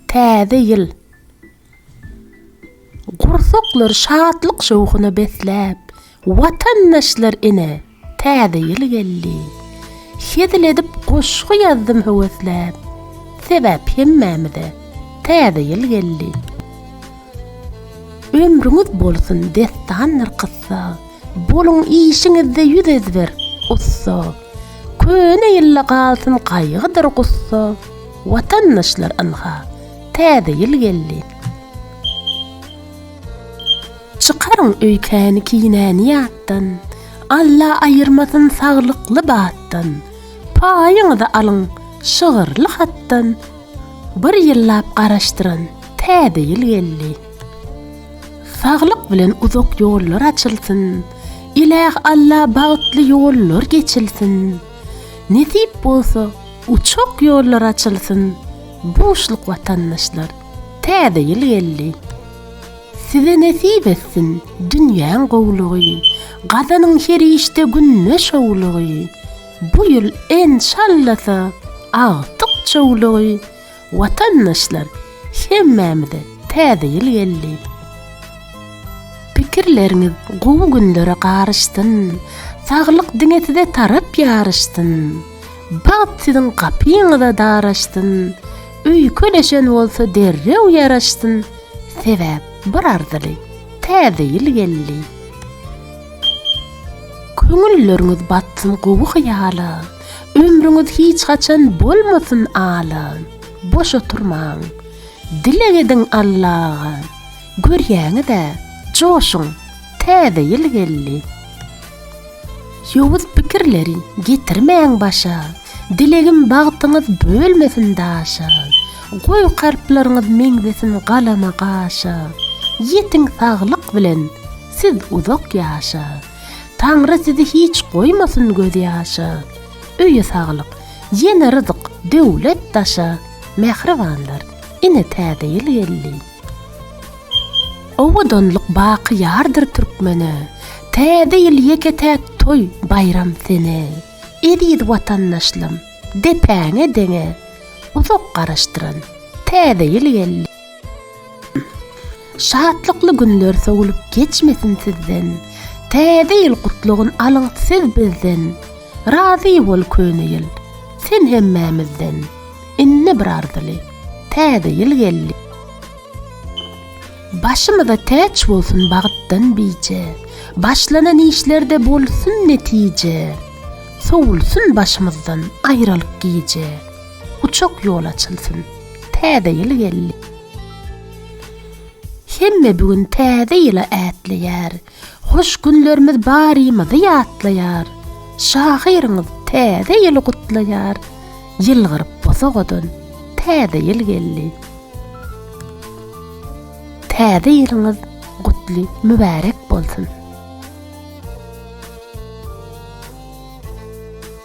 Täze ýyl. Gursaklary şatlyk-şowhuna besläp, watandaşlar ine, Täze ýyl geldi. Hezil edip goşgy ýazdym höwesläp, sebäp hemmämize Täze ýyl geldi. Ömrüňiz bolsun dessandyr kyssa. Boluň işiňizde ýüz ezber, ussa, Köne ýylla galsyn gaýgydyr gussa, Watandaşlar ynha, täze ýyl geldi. Çykaryň öýkäni kinäni ýatdan, Alla aýyrmasyn saglykly batdan, Paýyňyzy alyň şygyrly hatdan, Bir ýyllap garaşdyran täze ýyl geldi. Saglyk bilen uzak ýollar açylsyn. Iläh Alla bagtly ýollar geçilsin. Nesip bolsa uçuk ýollar açylsyn. Buşluk watandaşlar täze ýyl geldi. Size nesip etsin dünýäň gowlugy. Gazanyň her işde günde şowlugy. Bu ýyl enşallasa agtyk çowlugy. Watandaşlar hemmämize täze ýyl geldi. Pikirleriňiz gowy günlere garyşsyn, saglyk diňe size tarap ýaryşsyn, bagt siziň gapyňyza daraşsyn, öýkeleşen bolsa derrew ýaraşsyn, sebäp bir arzyly täze ýyl geldi. Köňülleriňiz batsyn gowy hyýala. Ömrüňiz hiç haçan bolmasyn alan. Boş oturmaň. Dileg ediň Allaga. Görýäňiz-ä, joşuň, täze ýyl geldi. Ýowuz pikirleri getirmäň başa. Dilegim bagtyňyz bölmesin daşa. Goý kalplaryňyz meňzesin galama-gaşa. Ýetiň saglyk bilen siz uzak ýaşa. Taňry sizi hiç goýmasyn göz ýaşa. Öýe saglyk, ýene ryzyk, döwlet daşa. Mähribanlar, ine täze ýyl geldi. Owadanlyk baky ýardyr türkmene. Täze ýyl ýeke-täk toý, baýram sene. Eziz watandaşlam, depäňe deňe. Uzak garaşdyran, täze ýyl geldi. Şatlykly günler sowulyp geçmesin sizden, Täze ýyl gutlagyn alyň siz bizden, Razy bol köne ýyl, sen hemmämizden, Indi bir arzyly, täze ýyl geldi. Başymyza täç bolsun bagtdan bije, Başlanan işlerde bolsun netije, Sowulsun başymyzdan aýralyk gije. Uçak ýol açylsyn. Täze ýyl geldi. Hemme bu gün täze ýyla ätleýär. Hoş günlerimiz barymyzy ýatlaýar. Şahyryňyz täze ýyly gutlaýar. Ýylgyryp bosagadan täze ýyl geldi. Täze ýylyňyz gutly, mübärek bolsun.